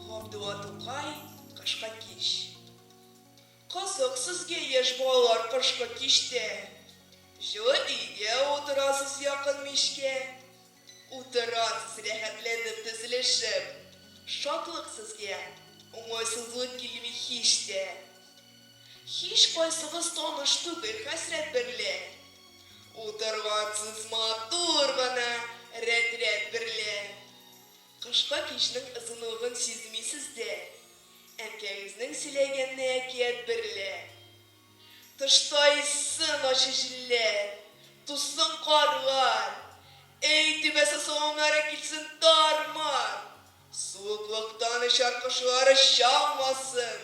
Габдулла Тукай Кышкы кич Кызык сезгә, яшь балалар, кышкы кичтә. Җылы өйдә утырасыз якын мичкә. Утырасыз рәхәтләнеп тезелешеп. Шатлык сезгә, уңайсызлык килми һич тә. Һичкайсыгыз таныш түгел хәсрәт берлә. Утыргансыз матур гына рәт-рәт берлә. Кышка кичнең озынлыгын сизмисез дә. Әнкәгезнең сөйләгәнне әкият берлә. Тышта иссен ачы җилләр, туссың карлар. Өй түбәсе саламнары килсен тар-мар. Суыклыктан очар кошлар оча алмасын.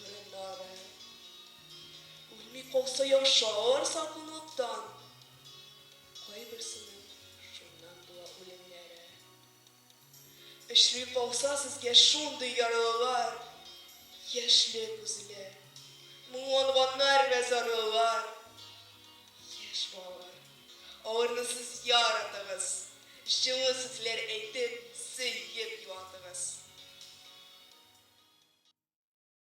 Борыннары үлми калса яшар саркаулыктан, кайберсенең шуннан була үлемнәре. Очрый калса сезгә шундый ярлылар, яшьле күзле, моңланганнар вә зарлылар, яшь балалар, аларны сез яратыгыз, җылы сүзләр әйтеп, сөеп юатыгыз.